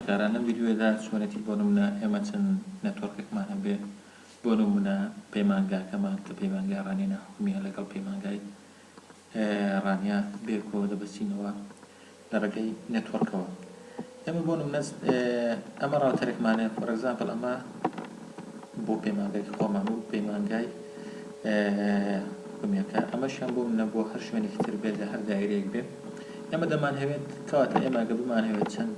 جاران لەم ڤیدیۆیەدا چۆنێتی بۆ نمونە ئێمە چەند نێتۆرکێکمان هەبێ بۆ نمونە پەیمانگاکەمان کە پەیمانگای ڕانیە ناحکومیە لەگەڵ پەیمانگای ڕانیە بێکۆ دەبەستینەوە لە ڕێگەی نێتۆرکەوە ئێمە بۆ نمونە ئەمە ڕاوتەرێکمانێ فۆر ئەگزامپل ئەمە بۆ پەیمانگای خۆمان و پەیمانگای حکومیەکە ئەمەشیان بۆ منە بۆ هەر شوێنێکی تر بێت لە هەر دایرەیەک بێت ئێمە دەمان هەوێت کەواتە ئێمە گە بمان هەوێت چەند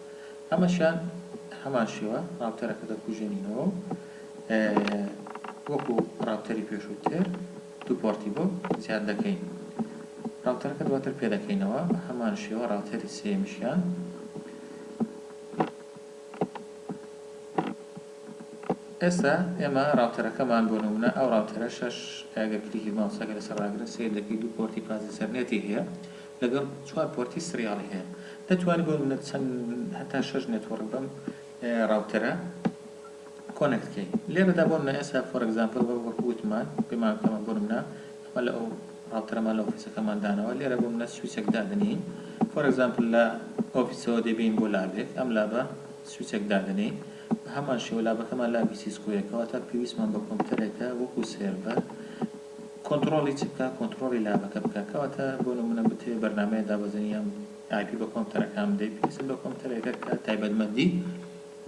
ئەمەشیان هەمان شێوە ڕاوتەرەکە دەکوژێنینەوە و وەکو ڕاوتەری پێشووتر دوو پۆڕتی بۆ زیاد دەکەین ڕاوتەرەکە دواتر پێدەکەینەوە بە هەمان شێوە ڕاوتەری سێمیشیان ئێستا ئێمە ڕاوتەرەکەمان بۆ نمونە ئەو ڕاوتەرە شەش ئەگەر کلیکی ماوسەکە لەسەر ڕاگرن سیر دەکەی دوو پۆرتی پازی سەرنێتی هەیە لەگەڵ چوار پۆرتی سریالی هەیە دەتوانم بۆ نمونە چەند هەتا شەش نێتوڕک بەم ڕاوتەرە کۆنێکت کەی لێرەدا بۆ نمونە ئێستا فۆر ئەگزامپڵ وەکو وتمان پێمان ئێمە بۆ نمونە ئەمە لە ئەو ڕاوتەرەمان لە ئۆفیسەکەمان داناوە لێرە بۆ نمونە سویچێک دادەنێین فۆر ئەگزامپڵ لە ئۆفیسەوە دەبین بۆ لابێک ئەم لابە سویچێک دادەنێین بە هەمان شێوە لابەکەمان لابی سیسکۆیەکەوە تا پێویستمان بە کۆمپیوتەرێکە وەکو سێرڤەر کۆنتڕۆڵی چ بکا کۆنتڕۆڵی لابەکە بکا کەواتە بۆ نمونە بتەوێ بەرنامەیە دابەزێنی یان ئایپی بە کۆمپتەرەکان بدەی پێویستە بە کۆمپتەرێکە کە تایبەتمەندی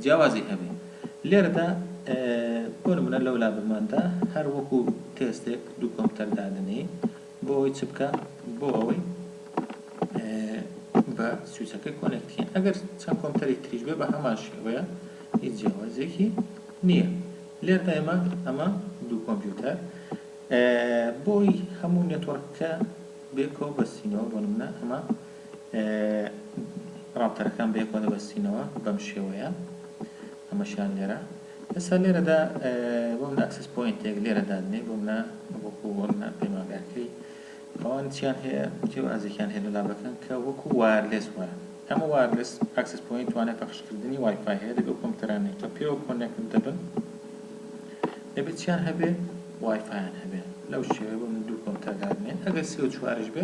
جیاوازی هەبێ لێرەدا بۆ نمونە لەو لابماندا هەر وەکو تێستێک دوو کۆمپتەر دادنێ بۆ ئەوەی چ بکە بۆ ئەوەی بە سویچەکەی کۆنێکتکەین ئەگەر چەند کۆمپتەرێک تریش بێ بە هەمان شێوەیە هیچ جیاوازێکی نییە لێرە ئێمە ئەمە دوو کۆمپیوتەر بۆی هەموو نێتۆرکەکە بێکەوە بەستینەوە بۆ نمونە ئەمە ڕاپتەرەکان بێکەوە دەبەستینەوە بەم شێوەیە ئەمەشیان لێرە ئێستا لێرەدا بۆ منە ئەکسس پوینتێک لێرە دادنێ بۆ منە وەکو بۆ منە پەیمانگاکەی ئەوان چیان هەیە جیاوازێکیان هەیە لە لابەکان کە وەکو وایەرلێس وایە ئەمە وایەرلێس ئەکسس پۆینت توانای پەخشکردنی وای فای هەیە دەبێ ئەو کۆمپیوتەرانەی کە پێوە کۆنێکت دەبن دەبێ چیان هەبێ وای فایان هەبێ لەو شێوەیە بۆ من دوو کۆمپیوتەر دادنێن ئەگەر سێ و چواریش بێ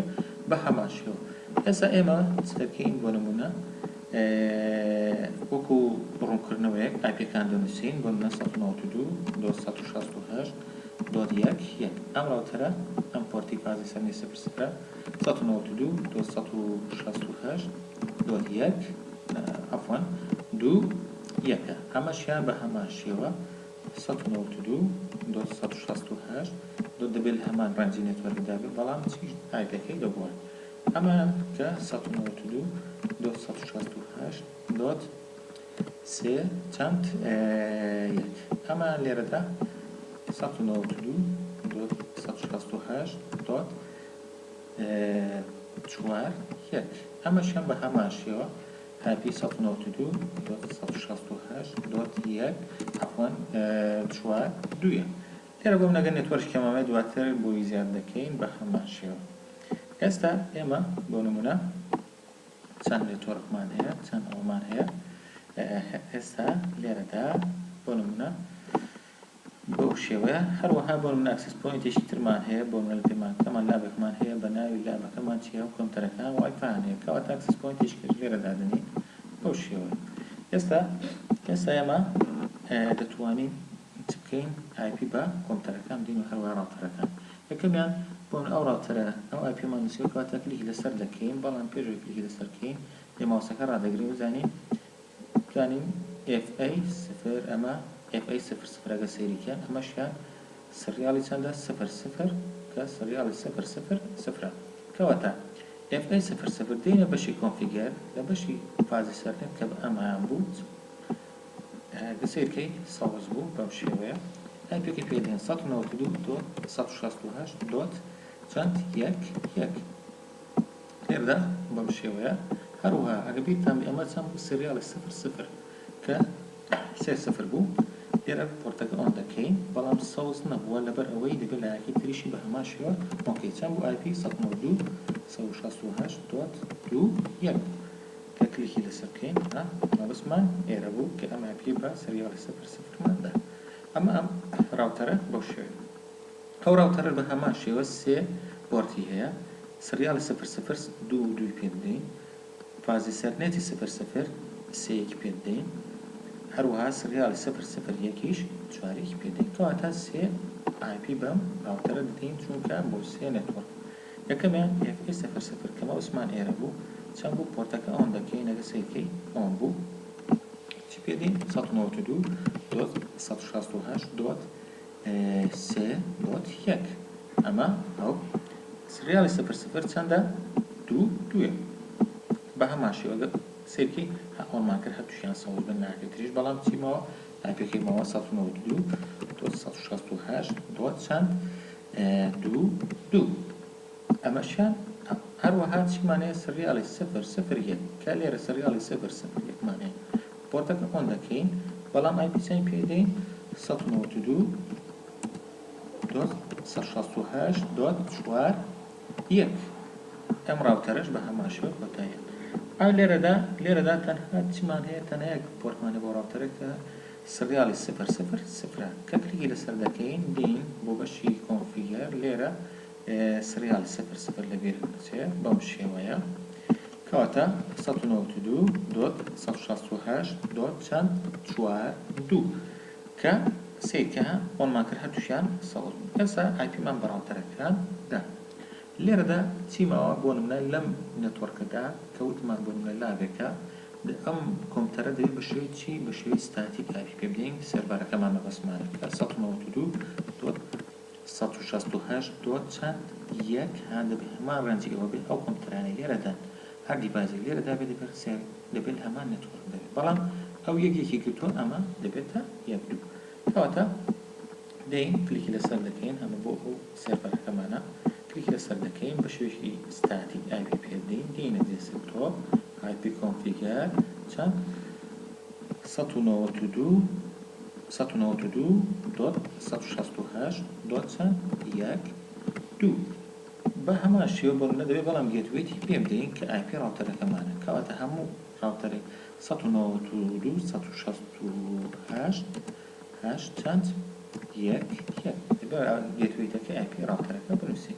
بە هەمان شێوە ئێستا ئێمە چ دەکەین بۆ نمونە وەکو ڕوونکردنەوەیەک ئاپیەکان دەنووسین بۆ نە 1992 268 دۆت یەک یەک ئەم ڕاوتەرە ئەم پۆرتی فازی سەرنجی سفر سفرە سەد و نەوەد و دوو دۆت سەد و شەست و هەشت دۆت یەک عەفوەن دوو یەکە ئەمەشیان بە هەمان شێوە سەد و نەوەد و دوو دۆت سەد و شەست و هەشت دۆت دەبێت هەمان ڕەنجی نێتوەرک دابێت بەڵام چی ئایپەکەی لە بوار ئەمە کە سەد و نەوەد و دوو دۆت سەد و شەست و هەشت دۆت سێ چەند یەک؟ ئەمە لێرەدا سەد و نەوەد و دوو دۆت سەد و شەست و هەشت دۆت چوار یەک ئەمەشیان بە هەمان شێوە هەپی سەد و نەوەد و دوو دۆت سەد و شەست و هەشت دۆت یەک عەفوەن چوار دوویە لێرە بۆم نەگەر نێتوەرک کەمامەی دواتر بۆی زیاد دەکەین بە هەمان شێوە ئێستا ئێمە بۆ نمونە چەند نێتۆرکمان هەیە، چەند ئەوەمان هەیە ئێستا لێرەدا بۆ نموونە بەو شێوەیە، هەروەها بۆ نموونە ئەکسس پۆینتێکی ترمان هەیە بۆ نموونە لە پەیمانگەکەمان لابێکمان هەیە بە ناوی لابەکەمان چیە و کۆمپیوتەرەکە وای فایان هەیە کەواتە ئەکسس پۆینتێکیش لێرە دادەنێین بەو شێوەیە ئێستا ئێستا ئێمە دەتوانین چ بکەین ئای پی بە کۆمپیوتەرەکان بدەین و هەروەها ڕاوتەرەکان یەکەمیان بۆمن ئەو ڕاوتەرە ئەو ئای پیەمان نوسیوە کەواتە کلیک لەسەر دەکەین بەڵام پێش ئەوەی کلیک لەسەر کەین لێ ماوسەکە ڕادەگرین بزانین بزانین ئێف ئەی سفر ئەمە ئێف ئەی سفر سفر ئەگە سەیریکەن ئەمەشیان سریالی چەندە سفر سفر کە سریالی سفر سفر سفرە کەواتە ئێف ئەی سفر سفر دێنە بەشی کۆنفیگەر لە بەشی فازی سەرنێت کە بە ئەمەیان بوو گە سەیر کەی سەوز بوو بەم شێوەیە ئای پێکە پێ دێن سەد و نەوەد و دوو دۆت سەد و شەست و هەشت دۆت چەند یەک یەک لێردا بەم شێوەیە هەروها ئەگە بیرتان ئێمە چەند بوو سریاڵی سفر سفر کە سێ سفر بوو لێرە پۆرتەکە ئۆن دەکەین بەڵام سەوز نەبووە لەبەر ئەوەی دەبێت لایەکی تریشی بە هەمان شێوە ئۆنکەی چەند بوو ئای پی سەد و نەوەد و دوو سەد و شەست و هەشت دۆت دوو یەک بوو کە کلیکی لەسەر بکەین ئا مەبەستمان ئێرە بوو کە ئەم ئایپیە بە سریاڵی سفر سفرمان دا ئەمە ئەم ڕاوتەرە بەو شێوەیە ئەو ڕاوتەرە بە هەمان شێوە سێ پۆرتی هەیە سریاڵی سفر سفر دوو و دووی پێ بدەین فازی سەر نێتی سفر سفر سێ یەکی پێ بدەین هەروەها سریاڵی سفر سفر یەکیش چوار یەکی پێ دەین کەواتە سێ ئایپی بەم ڕاوتەرە دەدەین چونکە بۆ سێ نێتوەڕک یەکەمیان پێیەکەی سەفەر سەفەر کەمە عوسمان ئێرە بوو چەند بوو پۆرتەکە ئەوەندە کەی نەگە سەیر کەی ئەوەم بوو چی پێ دێ سەد و نەوەت و دوو دۆت سەد و شاست و هەشت دۆت سێ دۆت یەک ئەمە ئەو سریالی سەفەر سەفەر چەندە دوو دوێ بە هەمان شێوەگە سەیرکەی هە ئەوەمان کرد هەتووشیان سەوز بن ناکرێت تریش بەڵام چیمەوە ئایپێکەی ماوە سەد و نەوەد و دوو هەزار سەد و شەست و هەشت دۆت چەند دوو دوو ئەمەشیان هەروەها چیمان هەیە سریالی سفر سفر یەک کە لێرە سریالی سفر سفر یەک مان هەیە پۆرتەکە ئۆن دەکەین بەڵام ئایپی چەند پێ دەین سەد و نەوەد و دوو دۆت سەد و شەست و هەشت دۆت چوار یەک، ئەم ڕاوکەرەش بە هەمان شێوە کۆتاییان پێهات. ئا لێرەدا، لێرەدا تەنها چیمان هەیە؟ تەنها یەک پۆرتمان هەیە بۆ ڕاوکەرە کە سریاڵی سفر، سفر، سفرە. کە کلیکی لەسەر دەکەین، دێین بۆ بەشی کۆنفیگەر، لێرە سریاڵی سفر، سفر لە بیرت نەچێ، بەم شێوەیە. کەواتە سەد و نەوەد و دوو دۆت سەد و شەست و هەشت دۆت چەند؟ چوار دوو. کە سەیر کە ئۆنمان کرد هەردووکیان سەوز بوون ئێستا ئایپی مان بەڕاوتەرە کران دا لێرەدا چی ماوە بۆ نمونە لەم نێتۆرکەدا کە وتمان بۆ نمونە لاڤێکە ئەم کۆمپتەرە دەبێ بە شێوەی چی بە شێوەی ستاتیک ئایپی پێ بدەین سێرڤەرەکەمان مەبەستمانە کە سەد و نەوەد و دوو دۆت سەد و شەست و هەشت دۆت چەند یەک هان دەبێت هەمان ڕێنجی ئەوە بێت ئەو کۆمپیوتەرانەی لێرە دان هەر دیڤایسێک لێرە دابێت دەبێت پرسیار دەبێت هەمان نێتوۆرک دەبێت بەڵام ئەو یەک یەکی گرتووە ئەمە دەبێتە یەک دوو کەواتە دێین کلیکی لەسەر دەکەین ئەمە بۆ ئەو سێرڤەرەکەمانە کلیکی لەسەر دەکەین بە شێوەیەکی ستاتیک ئای پی پێ بدەین دێینە دێسکتۆپ ئای پی کۆنفیگەر چەند سەد و نەوەد و دوو سەد و نەوەد و دوو دۆت سەد و شەست و هەشت دۆت چەند یەک دوو بە هەمان شێوە بۆ نمونە دەبێت بەڵام گێتوەیەکی پێ بدەین کە ئای پی ڕاوتەرەکەمانە کەواتە هەموو ڕاوتەرێک سەد و نەوەد و دوو سەد و شەست و هەشت هەشت چەند یەک یەک دەبێت گێتوەیتەکەی ئای پی ڕاوتەرەکە بنووسین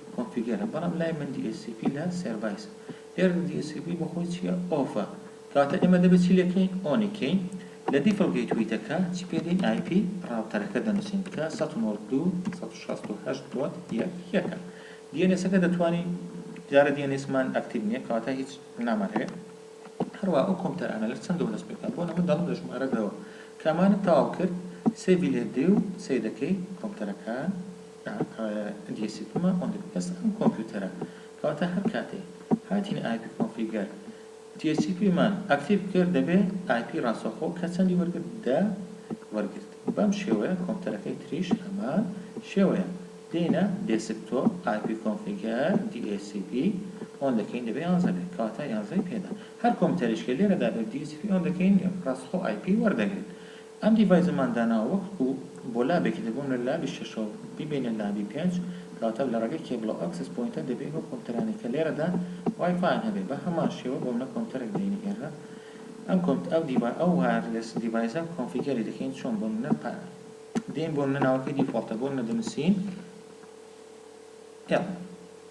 کۆنفیگەرە بەڵام لای من دی ئێس سی پی لە سێرڤایسە ئێرر دی ئێس سی پی بۆخۆی چیە ئۆفە کەواتە ئێمە دەبێت چی لێکەین ئۆنی کەین لە دیفڵ گەیتوەیتەکە چی پێ دەین ئای پی ڕاوتەرەکە دەنوسین کە سەد و نۆد دوو سەد و شەست و هەشت دۆت یەک یەکە دی ئێن ئێسەکە دەتوانی دیارە دی ئێن ئێسمان ئەکتیڤ نیە کەواتە هیچ نامانەوێت هەروە ئەو کۆمپیوتەرانە لەر چەند دەورەس پێکا بۆ نەمە دەڵم لە ژمارە دەوە کامانە تەواو کرد سێڤی لێ دێ و سەیرەکەی کۆمپیوتەرەکان دیسیپما ئۆن دپکەس ئەم کۆمپیوتەرە کەواتە هەر کاتێ هاتین ئایپی کۆنفیگەر دیسیپی مان ئەکتیڤ کرد دەبێ ئایپی ڕاستەوخۆ کە چەندی وەرگرت دە وەرگرت بەم شێوەیە کۆمپیوتەرەکەی تریش هەمان شێوەیە دێینە دێسکتۆپ ئایپی کۆنفیگەر DHCP ئۆن دەکەین دەبێ یانزە بێ کەواتە یانزەی پێدا هەر کۆمپیوتەرێش کە لێرەدا بێ دیسیپی ئۆن دەکەین ڕاستەخۆ ئایپی وەردەگرێت ئەم دیڤایزەمان داناوە وەکو بۆ لابێکی تر، بۆ نمونە لابی شەشەوە بیبەینە لابی پێنج، کەواتە لە ڕێگەی کێبڵە و ئەکسس پۆینتە دەبێ ئەو کۆمپیوتەرانەی کە لێرەدان وای فایان هەبێ بە هەمان شێوە بۆ منە کۆمپیوتەرێک دێنی ئێرە ئەم کۆمپ ئەو دیڤا ئەو وایەرلێس دیڤایزە کۆنفیگەری دەکەین چۆن بۆ نمونە پا دێین بۆ نمونە ناوەکەی دیفۆڵتە بۆ نمونە دەنوسین ئێڵ.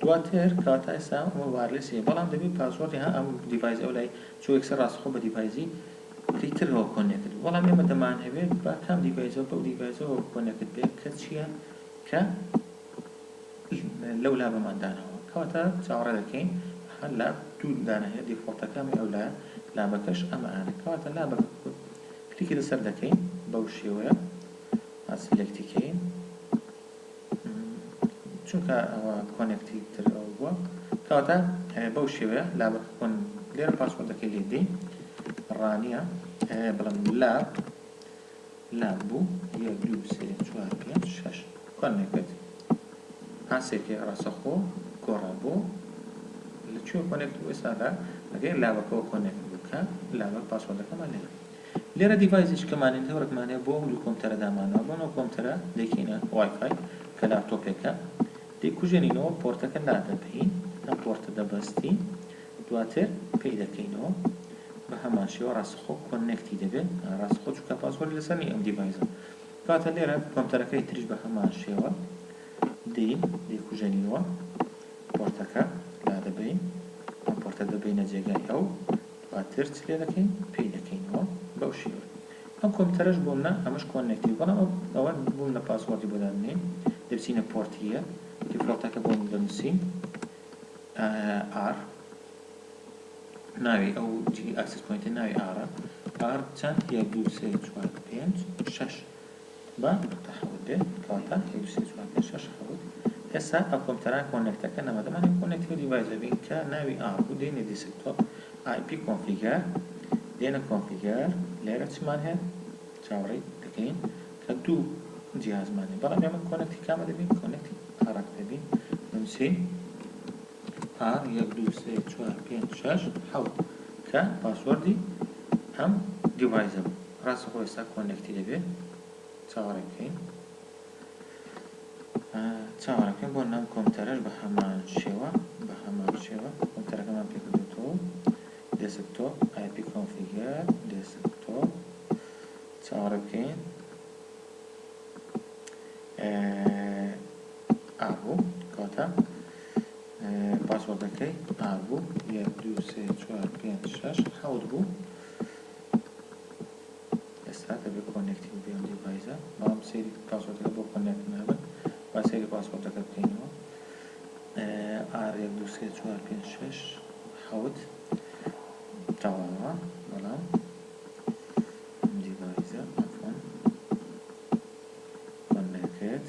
دواتر کاتایسا و وایرلێس هەیە بەڵام دەبێت پاسۆردی ها ئەم دیڤایس ئەو لای چوو یەکسەر ڕاستەخۆ بە دیڤایزی ی ترەوە کۆنێکت بێ بەڵام ئێمە دەمانهەوێت با کام دیڤایزەوە بەو دیڤایزەوە کۆنێکت بێ کە چیە کە لەو لا بەمان داناوە کەواتە چاوەڕێ دەکەین ها لا دوو دانهێنە دیفۆڵتەکە ئەمەی ئەو لایە لابەکەش ئەمە ئانە کەواتە لا بەکە کلیکی لەسەر دەکەین بەو شێوەیە ها سلێکتی کەین. چونکە ئەوە کۆنێکتی تر ئەوە بووە کەواتە بەو شێوەیە لابەکە کۆن لێرە پاسۆردەکەی لێ دەی ڕانیە بڵم لاب لاب بوو یەک دوو سێ چوار پێنج شەش کۆنێکت پاسێکی ڕاستەخۆ گۆڕا بۆ لە کوێ کۆنێکت بوو ئێستاکە ئەگەر لابەکەەوە کۆنێکت بوو کە لابەک پاسۆردەکەمان لێرە لێرە دیڤایزێکی کە مانێتهۆرک مانێ بۆ ئەو دوو کۆمپتەرە دامانەوە بەم ئەو کۆمپتەرە دەیکەینە وای فای کە لاپتۆپێکە دەیکوژێنینەوە پۆرتەکە لادەبەین ئەم پۆرتە دەبەستین دواتر پێی دەکەینەوە بە هەمان شێوە ڕاستەخۆ کۆنێکتی دەبێت ڕاستەخۆ چونکە پاسۆری لەسەر نیە ئەم دیڤایزە دواتر لێرە کۆمپتەرەکەی تریش بە هەمان شێوە دێین دەیکوژێنینەوە پۆرتەکە لادەبەین ئەم پۆرتە دەبەینە جێگای ئەو دواتر چ لێ دەکەین پێی دەکەینەوە بەو شێوەیە ئەم کۆمپیوتەرەش بۆ منە ئەمەش کۆننێکتیڤ بەڵام ئەو ئەوە بۆ منە پاسوۆردی بۆ دادەنێین دەچینە پۆرتی یەک دیفۆڵتەکە بۆ من دەنووسین ئار ناوی ئەو جلی ئاکسس پۆینتە ناوی ئارە ئار چەند یەک دوو سێ چوار پێنج شەش بانگ بە تەحەول دێ کەواتە یەک سێ چوار پێنج شەش حەوت ئێسا ئەو کۆمپیوتەرانە کۆنێکتەکە نەما دەمانەوێ کۆنێکتی دیڤایزە بین کە ناوی ئاڕ بوو دێنێ دیسکتۆپ ئای پی کۆنفیگەر دێنە کۆنفیگەر لێرە چمان هەیە چاوەڕێی دەکەین کە دوو جیهازمان هەیە بەڵام ئێمە کۆنێکتی کامە دەبین کۆنێکتی ئاڕەکە دەبین دەنووسین ئاڕ یەک دوو سێ چوار پێنج شەش حەوت کە پاسوەردی ئەم دیڤایزە بوو ڕاستە خۆ ئێستا کۆنێکتی دەبێ چاوەڕێ بکەین چاوەڕێ بکەین بۆ نام کۆمپیوتەرەش بە هەمان شێوە بە هەمان شێوە کۆمپیوتەرەکەمان پێ کردوتەوە دێسکتۆپ ئای پی کۆنفیگەر دێسکتۆپ چاوەڕێ بکەین ئابوو کەواتە پاسوەردەکەی ئابوو یەک دوو سێ چوار پێنج شەش حەوت بوو ئێستا دەبێت کۆنێکتیڤ بێ ئەم دیڤایزە بەڵام سەیری پاسۆردەکە بۆ کۆنێکت نابن با سەیری پاسۆردەکە بکەینەوە ئار یەک دوو سێ چوار پێنج شەش حەوت تەواوە بەڵام ئەم دیڤایزە ئەفۆن کۆنێکت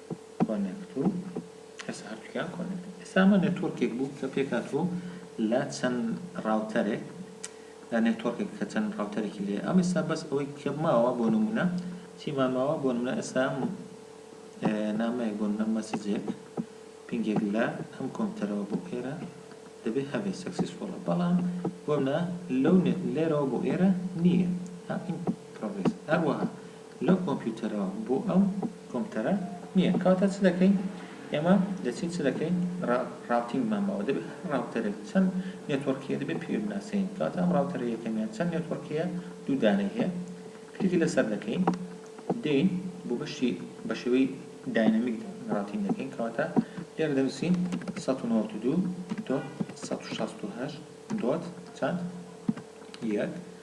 کۆنێکت و ئێستا هەردووکیان کۆنێکتن ئێستا ئەمە نێتۆرکێک بوو کە پێکاتوو لە چەند ڕاوتەرێک لە نێتۆرکێک کە چەند ڕاوتەرێکی لێ ئەم ئێستا بەس ئەوەی کە ماوە بۆ نمونە چیمان ماوە بۆ نمونە ئێستا نامەیەک بۆ نمونە مەسجێک پینگێک لە ئەم کۆمپیوتەرەوە بۆ ئێرە دەبێت هەبێت سەکسیسفۆڵە بەڵام بۆ منە لەو لێرەوە بۆ ئێرە نییە هەم پرۆگرێس هەروەها لەو کۆمپیوتەرەوە بۆ ئەو کۆمپتەرە نیە کەواتە چ دەکەین ئێمە دەچین چ دەکەین را راوتینگمان ماوە دەبێت هەر راوتەرێک چەند نێتۆرکیە دەبێت پێوەی بناسێنین کەواتە ئەم راوتەرە یەکەمیان چەند نێتۆرکیە دوو دانەی هەیە کلیکی لەسەر دەکەین دێین بۆ بەشی بەشێوەی داینەمیک راوتینگ دەکەین کەواتە لێرە دەنوسین سەد و نەوەد و دوو دۆت سەد و شەست و هەشت دۆت چەند یەک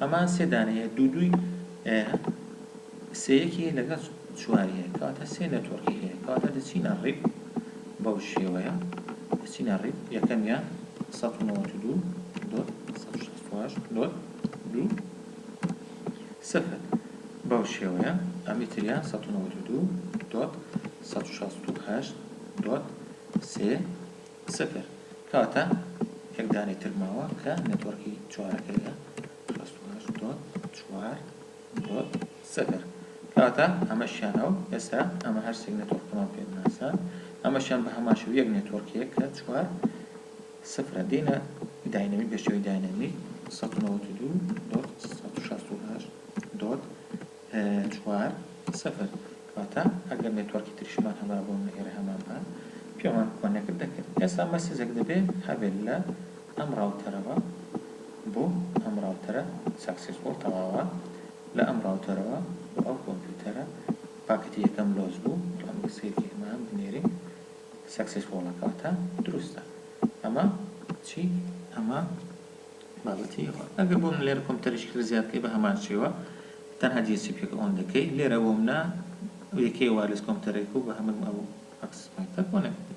ئەمان سێ دانەی هەیە دوو دووی هەیە سێ یەکی هەیە لەگەڵ چواری هەیە کەواتە سێ نێتۆرکی هەیە کەواتە دەچینە ڕیپ بەو شێوەیە دەچینە ڕیپ یەکەمیان سەد و نەوەد و دوو دۆت سەد و شەست و هەشت دۆت دوو سفر بەو شێوەیە ئەمی تریان سەد و نەوەد و دوو دۆت سەد و شەست و هەشت دۆت سێ قسەکەر، کەواتە یەک دانەی تر ماوە کە نێتوەڕکی چوارەکەیە، شەست و هەشت دۆت چوار دۆت سفر، کەواتە ئەمەشیانە و ئێستا ئەمە هەر سێک نێتوەڕکەمان پێ بناسە، ئەمەشیان بە هەمان شێوە یەک نێتوەڕکێک کە چوار سفرە، دێینە داینەمیک بە شێوەی داینەمیک، سەد و نەوەد و دوو دۆت سەد و شەست و هەشت دۆت چوار سفر واتە ئەگەر نێتوەرکی تریشمان هەبا بۆ نهێرە هەمان پان پێوان کۆنێکت دەکرد ئێستا مەسیجەک دەبێ هەبێت لە ئەم ڕاوتەرەوە بۆ ئەم ڕاوتەرە سەکسیسفوڵ تەواوە لە ئەم ڕاوتەرەوە بۆ ئەو کۆمپیوتەرە پاکەتی یەکەم لۆس بوو ڕەنگە سەیری ئەمە بنێرین سەکسیسفوڵە کەواتە دروستە ئەمە چی ئەمە بابەتی ئێوە ئەگەر بۆ من لێرە کۆمپیوتەرێکی تر زیاد بکەی بە هەمان شێوە تەنها جێسی پێک ئۆن دەکەی لێرە بۆ منە یەکەی وایرلس کۆمپیوتەرێک و بە هەمن ئەو ئەکسس پۆینتە بۆ نەکردی.